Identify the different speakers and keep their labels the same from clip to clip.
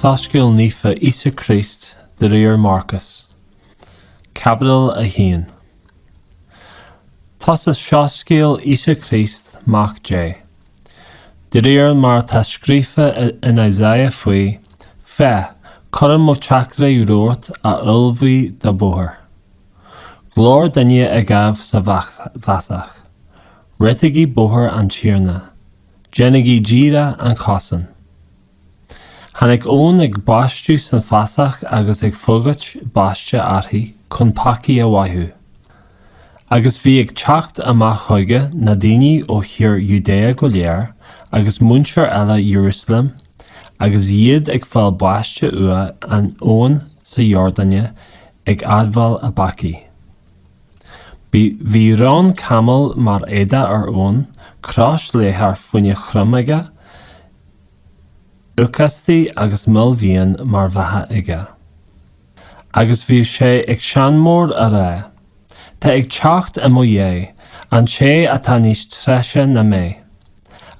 Speaker 1: Soiscéal Naofa Íosa Críost de réir Marcas, Caibidil 1 Tosach Soiscéal Íosa Críost, Mac Dé. De réir mar atá scríofa in Isaiah fáidh, Féach, cuirim mo theachtaire romhat a ullmhóidh do bhóthar. Glór duine ag éamh sa bhfásach, Réitígí bóthar an Tiarna, déanaigí díreach a chosáin. Tháinig Eoin ag baisteadh san fhásach agus ag fógairt baiste aithrí chun peacaí a mhaitheamh. Agus bhí ag teacht amach chuige na daoine ó thír Iúdáia go léir agus muintir uile Iarúsailéim, agus iad ag fáil baiste uaidh in abhainn sa Iordáine ag admháil a bpeacaí. Bhí rón camaill mar éadach ar Eoin, crios leathair faoina choim aige, Lócaistí agus mil fhiáin mar bheatha aige. Agus bhíodh sé ag seanmóir á rá, Tá ag teacht i mo dhiaidh an té atá níos treise na mé,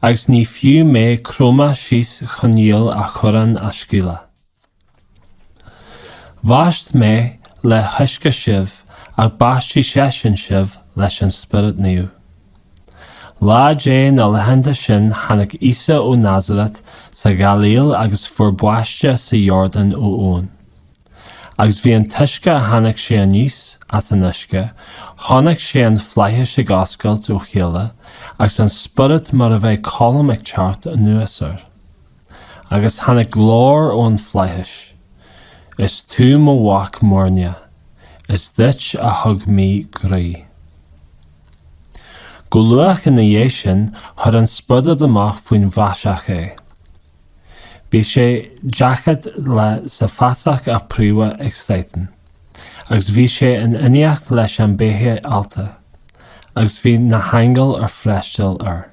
Speaker 1: agus ní fiú mé cromadh síos chun iall a chuarán a scaoileadh. Bhaist mé le huisce sibh ach baistfidh seisean sibh leis an Spiorad Naomh. Lá de na laethanta sin tháinig Íosa ó Nazarat sa Ghailíl agus fuair baiste sa Iordáin ó Eoin. Agus bhí an túisce a tháinig sé aníos as an uisce, chonaic sé an Flaithis ag oscailt ó chéile agus an Spiorad mar a bheadh colm ag teacht anuas air. Agus tháinig glór ón Flaithis, Is tú mo Mhac muirneach, is duit a thug mé gnaoi. Go luath ina dhiaidh sin chuir an spiorad amach faoin bhfásach é. Bhí sé daichead lá sa bhfásach á phromhadh ag Satan, agus bhí sé in éineacht leis na beithígh allta, agus bhí na haingil ag freastal air.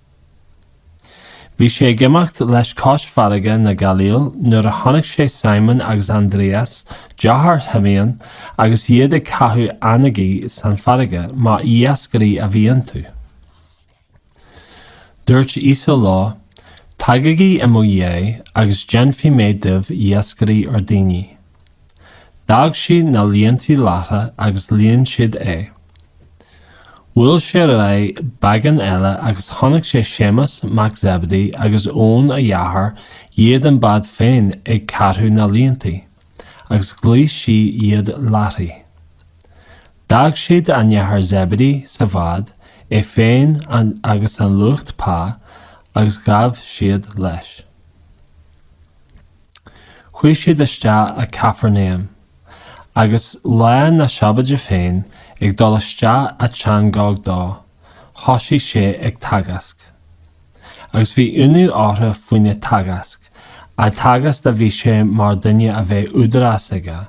Speaker 1: Bhí sé ag imeacht leis cois farraige na Gailíle nuair a chonaic sé Síomón agus Aindrias, deartháir Shíomóin, agus iad ag caitheamh eangaí san fharraige, mar iascairí a bhí iontu. Dúirt Íosa leo, Tagaigí i mo dhiaidh agus déanfaidh mé díbh iascairí ar dhaoine. D'fhág siad na líontaí láithreach agus lean siad é. Bhuail sé ar aghaidh beagán eile agus chonaic sé Séamas mac Zebedee agus Eoin a dheartháir iad an bád féin ag ceartú na líontaí, agus ghlaoigh sé iad láithreach. D'fhág siad a n-athair Zebedee sa bhád, é féin agus an lucht pá, agus ghabh siad leis. Chuaidh siad isteach i Cafarnáum, agus lá na Sabóide féin, ag dul isteach sa tsionagóg dó, thosaigh sé ag teagasc. Agus bhí ionadh orthu faoina teagasc, á dteagasc a bhí sé mar duine a bheadh údarás aige,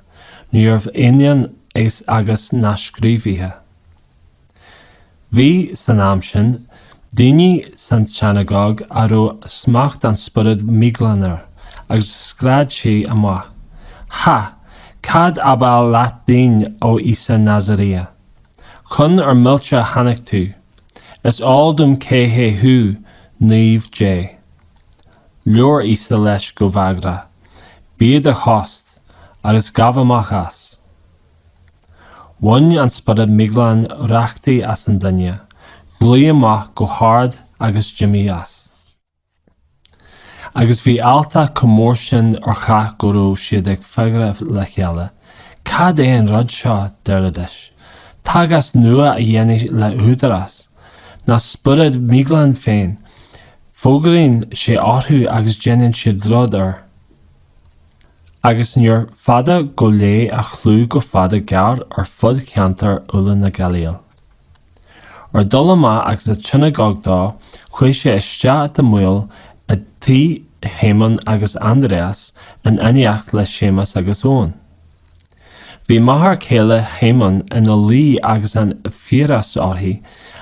Speaker 1: níorbh ionann agus na scríobhaithe. Bhí, san am sin, duine san tsionagóg a raibh smacht an spiorad míghlan air, agus scread sé amach, Ha! Cad ab áil leat dínn a Íosa Nazairía? Chun ár millte a tháinig tú! Is eol dom cé hé thú, Naomh Dé! Labhair Íosa leis go bagrach, Bí i do thost, agus gabh amach as! Bhain an spiorad míghlan rachtaí as an duine, ghlaoigh amach go hard agus d'imigh as. Agus bhí alltacht chomh mór sin ar chách go raibh siad ag fiafraí le chéile, Cad é an rud seo, deiridís. Teagasc nua á dhéanamh le húdarás? Na spioraid míghlan féin. Fógraíonn sé orthu agus déanann siad rud air. agus níor fada gur leath a chlú go fada gearr ar fud cheantar uile na Gailíle. Ar dhul amach as an tsionagóg dó, chuaigh sé isteach gan mhoill i dtigh Shíomóin agus Aindrias in éineacht le Séamas agus Eoin. Bhí máthair céile Shíomóin ina luí agus an fiabhras uirthi,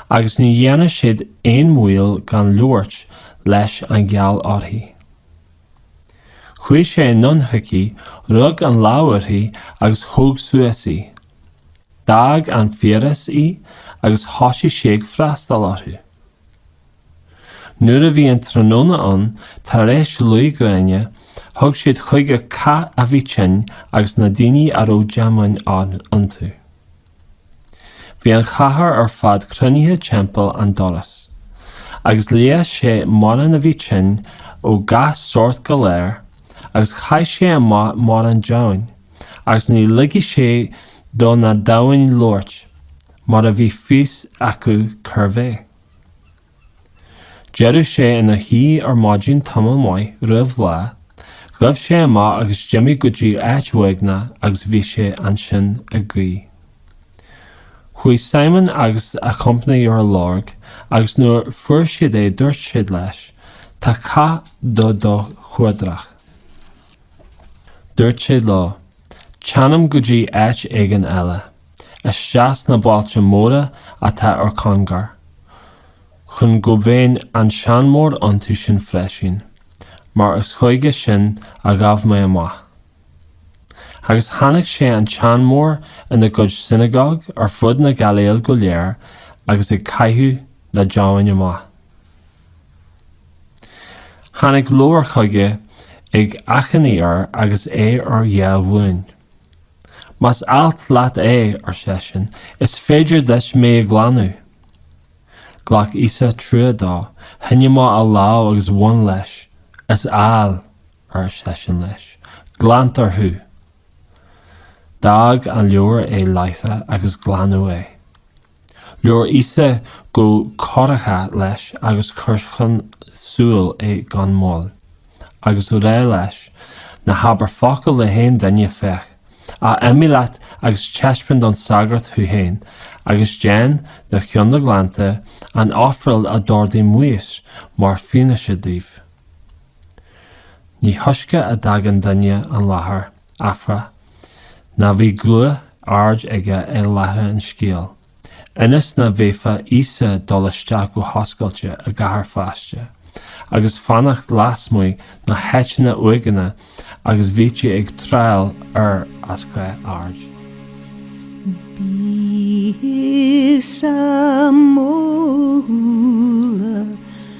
Speaker 1: agus ní dhearna siad aon mhoill gan labhairt leis mar gheall uirthi. Chuaigh sé anonn chuici, rug ar lámh uirthi agus thóg suas í. D'fhág an fiabhras í agus thosaigh sí ag freastal orthu. Nuair a bhí an tráthnóna ann, tar éis luí gréine, thug siad chuige cách a bhí tinn agus na daoine a raibh deamhain iontu. Bhí an chathair ar fad cruinnithe timpeall an dorais, agus leigheas sé mórán a bhí tinn ó gach sórt galair, agus chaith sé amach mórán deamhain, agus ní ligeadh sé do na deamhain labhairt, mar bhí a fhios acu cérbh é. D'éirigh sé ina shuí ar maidin tamall maith roimh lá, ghabh sé amach agus d'imigh go dtí áit uaigneach agus bhí sé ansin ag guí. Chuaigh Simon agus a chompánaigh ar a lorg agus nuair a fuair siad é dúirt siad leis, Tá cách do do chuardach. Dúirt sé leo, Téanam go dtí áit éigin eile. isteach sna bailte móra atá ar cóngar, chun go mbeinn ag seanmóir iontu sin freisin, mar is chuige sin a ghabh mé amach. Agus tháinig sé ag seanmóir ina gcuid sionagóg ar fud na Gailíle go léir agus ag caitheamh na ndeamhan amach. Tháinig lobhar chuige ag achainí air agus é ar a dhá ghlúin. Más áil leat é, ar seisean, is féidir duit mé a ghlanadh. Ghlac Íosa trua dó, shín amach a lámh agus bhain leis. Is áil, ar seisean leis. Glantar thú. D'fhág an lobhra é láithreach agus glanadh é. Labhair Íosa go corraithe leis agus chuir chun siúil é gan mhoill. Agus á rá leis, ná habair focal le haon duine, féach, ach imigh leat agus taispeáin don sagart thú féin, agus déan, de chionn do ghlanta, an ofráil a d'ordaigh Maois mar fhianaise dóibh. Ní túisce a d'fhág an duine an láthair. Áfach, ná bhí guth ard aige ag leathadh an scéil, ionas nach bhféadfadh Íosa dul isteach go hoscailte i gcathair feasta, agus fanacht lasmuigh sna háiteanna uaigneacha agus bhítí ag triall air as gach aird. Bhí
Speaker 2: Íosa modhúil